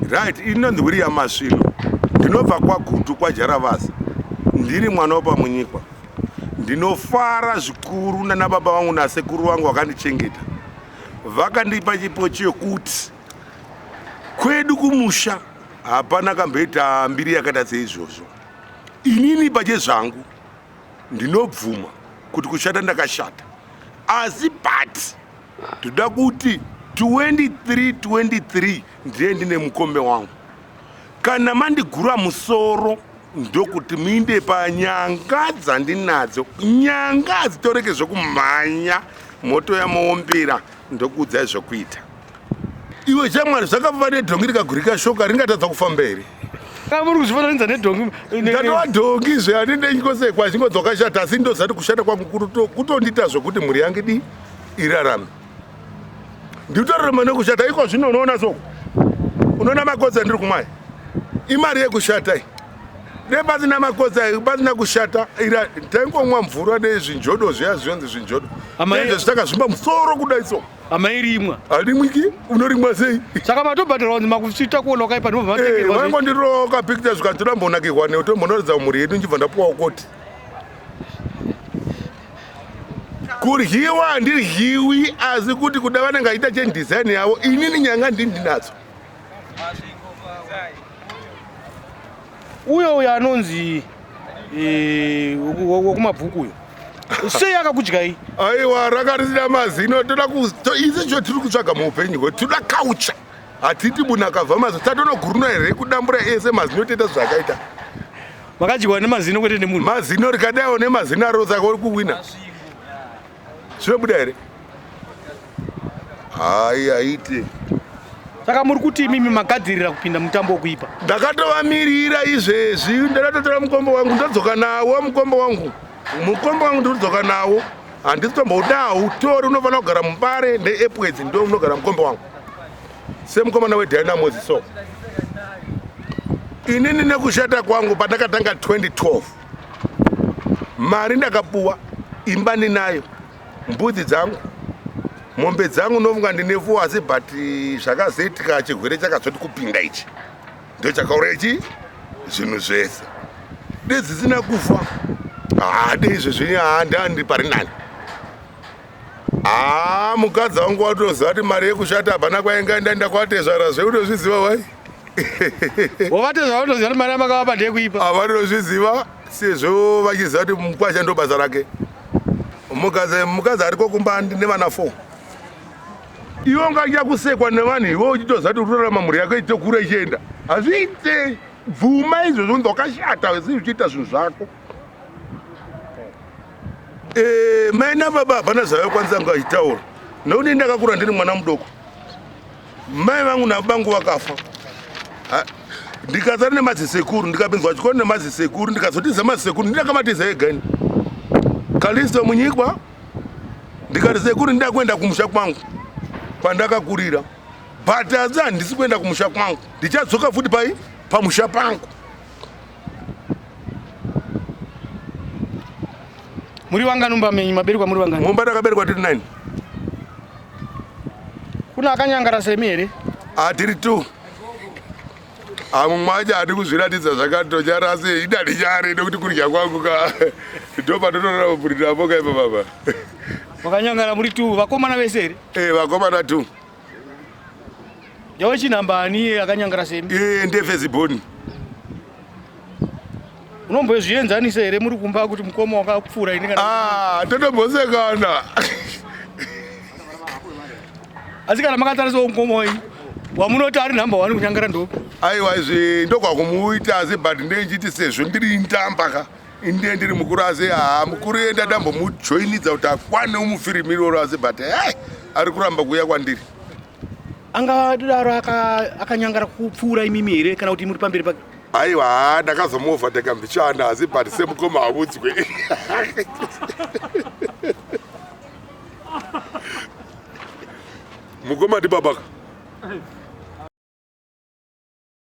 Right, inonzi William Masvino. Ndinobva kwaGutu kwaJaravasi. Ndiri mwana wepaMunyikwa. Ndinofara zvikuru nana baba vangu nasekuru vangu vakandichengeta. Vakandipa chipo chekuti kwedu kumusha hapana kamboita mbiri yakaita seizvozvo. Inini pachezvangu ndinobvuma kuti kushata ndakashata. Asi but Ndoda kuti 23 23 ndiye ndine mukombe wangu. Kana mandigura musoro ndokuti muinde panyanga dzandinadzo. Nyanga hadzitoreke zvekumhanya moto yamuombera ndokuudzai zvokuita. Iwe chamwari zvakafamba nedhongi rikagurika shoka ringatadza kufamba here? Kamuri kuzvifananidza nedhongi. Ndatova dhongi zve handindenyi kwose kwazvingodzoka shata asi ndozati kushata kwangu kutondiita zvokuti mhuri yangu dii? irarame ndikutorera mane kushata iko zvino unoona so unoona makoza ndiri kumaya imari yekushata i dai pasina makoza pasina kushata ira taingomwa mvura nezvinjodo zviya zvinonzi zvinjodo amaizve zvitanga zvimba musoro kudai so amairimwa arimwiki unorimwa sei saka matobhadhara wanzi makuita kuona wakaipa ndiovangondiroka eh, picture zvikanzi toda mbonakirwa neutombonoratidza mhuri yedu ndibva ndapuwa ukoti kuryiwa handiryiwi asi kuti kuda vanenge aita cheni design yavo inini nyanga ndini ndinadzo uyo uyo anonzi eh, wekumabvuku uyo sei akakudyai aiwa rakarisina mazino toda izi cho tiri kutsvaga muupenyu hwe toda kaucha hatiti munhu akabva mazino tatonoguruna here kudambura ese mazino toita zvakaita makadyiwa nemazino kwete nemunhu mazino rikadaiwo nemazino aro saka uri kuwina zvinobuda here hai haite saka muri kuti imimi magadzirira kupinda mutambo wokuipa ndakatovamirira izvezvi ndakatotora mukombo wangu ndodzoka nawo mukombo wangu mukombo wangu ndodzoka nawo handisi tomboudau tori unofanira kugara mubare neepwedzi ndo unogara mukombo wangu semukomana wedynamos so inini nekushata kwangu pandakatanga 2012 mari ndakapuwa imba ndinayo mbudzi dzangu mombe dzangu ndofunga ndine fuo asi but eh, zvakazoitika chirwere chakazoti kupinda ichi ndo chakaura ichi zvinhu zvese dezisina kufa haade izvezvi handandi pari nani haa mukadzi wangu watoziva kuti mari yekushata hapana kwainga ndaenda kwatezvara zveunozviziva wai wavatezvara unoziva kuti mari yamakavapa ndeyekuipa havanozviziva sezvo vachiziva kuti mukwasha ndo basa rake mukadzi ariko kumba nevana four iwe ungaita kusekwa nevanhu iwe uchitoziva kuti utorarama mhuri yako itokura ichienda hazviite bvuma izvozvo ndokashata zii uchiita zvinhu zvako Eh, mai nababa hapana zvavakwanisa ngaitaura nokuti ini ndakakura ndiri mwana mudoko mai vangu nabangu vakafa ndikasara nemazisekuru ndikapinzwa chikoro nemazisekuru ndikazotiza mazisekuru ndindakamatiza ega ini kalisto munyikwa ndikati sekuru ndida kuenda kumusha kwangu kwandakakurira but asi handisi kuenda kumusha kwangu ndichadzoka futi pai pamusha pangu Muri wanga numba menyu maberwa muri wanga. Mumba ndakaberwa tiri 9. Kuna akanyangara semi here? Ah tiri 2. amumwaja ati kuzviratidza zvakatochara asi ida ndichari nekuti kudya kwangu ka ndopa totorora kupurira poka ipa baba vakanyangana muri t vakomana vese here e eh, vakomana t Yawe chinhamba ani akanyangara semi? Eh, ndefeziboni. Unombozvienzanisa here muri kumba kuti mukoma wakapfuura ini kana? Ah, totombosekana. Asi kana makatarisawo mukoma wenyu wamunoti ari nhamba wani kunyangara ndopi? Aiwa izvi ndokwakumuita asi but ndechiti sezvo ndiri ntamba ka. Inde ndiri mukuru asi haa mukuru enda ndambomujoinidza kuti akwane umufirimi iroro asi but hey, ari kuramba kuuya kwandiri angadaro akanyangara aka kupfuura imimi here kana kuti muri pamberi pake aiwa haa ndakazomuovha ndakambichana asi but semukoma haudzwe mukoma ndibabaka